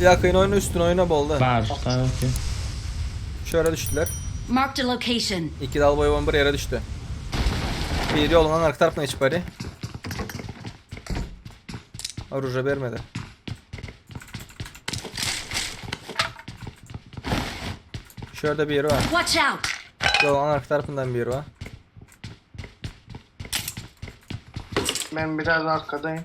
Ýakyn oýna üstün oýna boldy. Bar sky okey. Şu ýere düşdüler. Marked a location. Iki dalboýybam bir ýere düşdi. Biri ýoluň aňyrky tarapyna geçip barýa. Oruža bermedi. Şu ýerde biri bar. Watch out. Ýoluň aňyrky tarapyndan biri bar. Ben biraz arkadayım.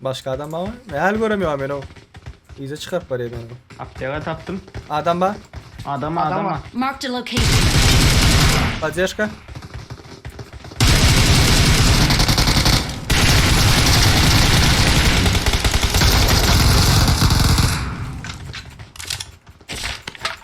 Başga adam barmy? Ne hal görem ýok meni. Yza çykaryp barýar meni. Apteka tapdym. Adam bar. Adam adam. Marked a location. Poddeşka.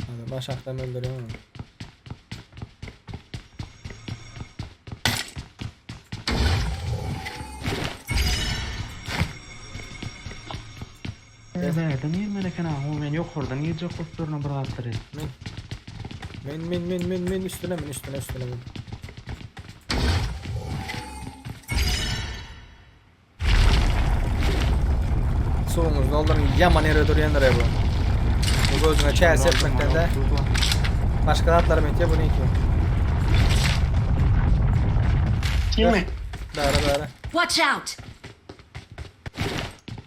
Hadi baş akdan öldürüyorum onu. Nereden girmen eken ha? O men yukarıdan girecek kusuruna bir atlar et. Men. Men men men men men üstüne men üstüne üstüne men. Suwuňyzy dolduryň. Ýaman ýere durýandyr bu. Bu gözüňe çäs etmekden de başga zatlar mekde bu niki. Kimi? Bäre bäre. Watch out!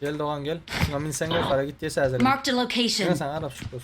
Gel dogan gel. Şuna minseň ýokara git diýse hazır. Marked a location. Sen arap şükür.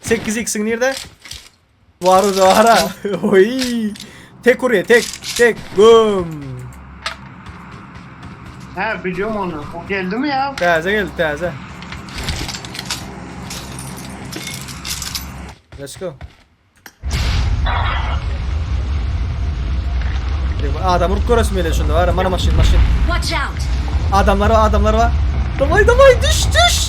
Sekiz x'in nirde? Var o zara. Oy. Tek oraya tek tek güm. He biliyorum onu. O geldi mi ya? Taze geldi taze. Let's go. Adam vurup görürsün böyle şunda var. Bana maşin maşin. Watch out! Adamlar var adamlar var. Davay davay düş düş.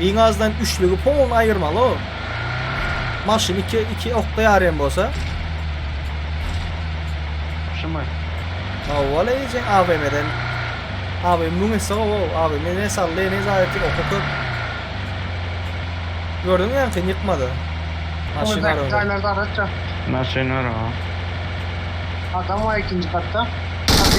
Iň azdan üçlügi polny aýyrmaly o. Maşyn iki, iki okda ýarýan bolsa. Şumy? Awwala eýjek AVM-den. AVM müň esse gowy, AVM ne saldy, ne zaýat, oky köp. Gördüň ýaňky ýykmady. Maşyn Öňürdäki arada. jaýlarda araç ýok. Maşyn bar ha. Adam bar ikinji katda. Hadi.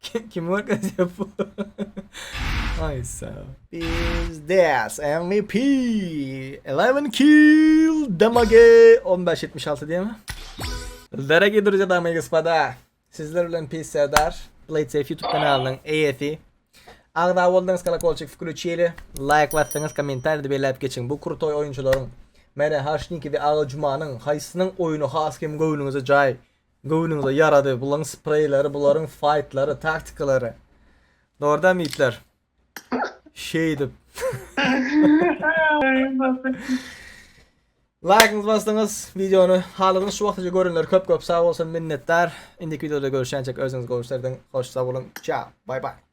Kim kim görkezýär bu? Ay sağ ol. Biz das MVP. 11 kill damage 1576 diýme. Daragiý druzýa damy i gospoda. Sizler bilen pis serdar. Blade Safe YouTube kanalynyň eýesi. Agza boldyňyz kolokolçik wklüçili. Laýk basdyňyz kommentariýada belläp geçiň. Bu krutoý oýunçylaryň Mene Haşniki we Aga Jumanyň haýsynyň oýny has hem göwnüňize jaý Göwnüňize ýarady bulaň spreýleri bularyň faýtlary taktikalary dogryda mitler şeýdip Laýkyňyzy basdyňyz wideony halyňyz şu wagtaça görenler köp köp sag bolsun minnetdar indiki wideoda görüşýänçek özüňiz gowy işler ediň hoş sag boluň çao bay bay.